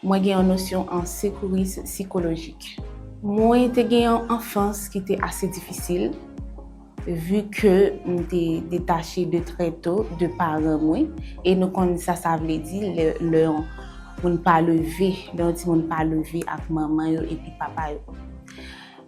Mwen gen yon nosyon an sekouris sikolojik. Mwen te gen yon anfans ki te ase difisil, vu ke m te detache de trè to de paran mwen, e nou konn sa sa vle di lè yon moun pa leve, lè yon timoun pa leve ak manman yo epi papa yo.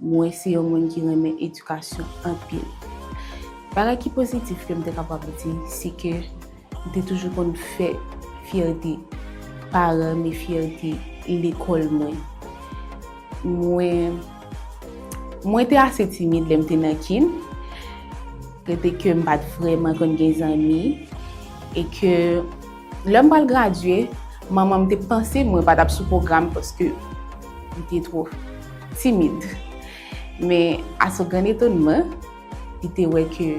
Mwen se yon moun ki renmen edikasyon anpil. Bagay ki pozitif ke m te kapab di, se ke m te toujou konn fè fyète paran m e fyète lekòl mwen. Mwen Mwen te ase timid lè m te nan kin, rete ke m pa t vrèman konn gen zanmi e ke Lè m pral gradye, manman m te panse mwen pa t ap sou pwogram paske m te twò timid. Men, a so grann etonman, li te wè ke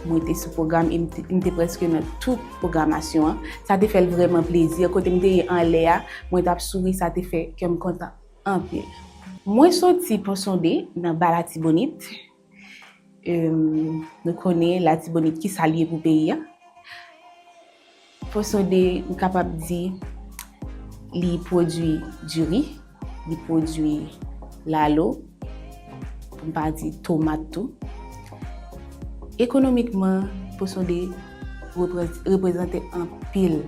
mwen te sou pwogram e m te prèske nan tout pwogramasyon an. Sa te fè l vrèman plezi. Kote m te ye anlè a, mwen t ap souri, sa te fè kè m kontan anpil. Mwen soti Ponsonde, nan Ba Latibonit, Nou konnen latibonit ki sa li ye pou peyi a. Fon sonde nou kapab di li pwodui diri, li pwodui lalo, pou m pa di tomat tou. Ekonomikman, fon sonde reprezante anpil.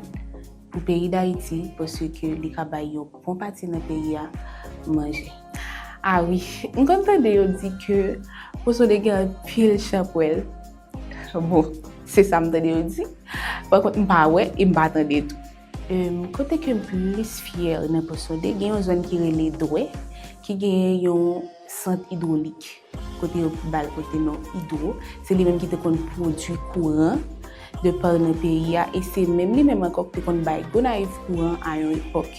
Pou peyi dayiti paske ke li ka bay yon bon pati nan peyi a manje. Ah wi m konn tande yo di ke poson de gen anpil chanpwèl bon se sa m tande yo di pa kont m pa wè e m pa tande tou. Kote ke m plis fyè nan poson de gen yon zòn ki rele dwè ki gen yon sant idwolik. Kote yo pou bal pote non Hydro, se li menm ki te konn pwodwi kouran de par nan peyi a e se menm li menm ankò ki te konn bay Gonayiv kouran a yon epòk.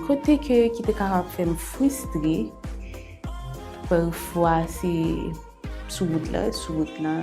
Kote ke ki te kapab fè m fristre pafwa se sou wout la, sou wout la.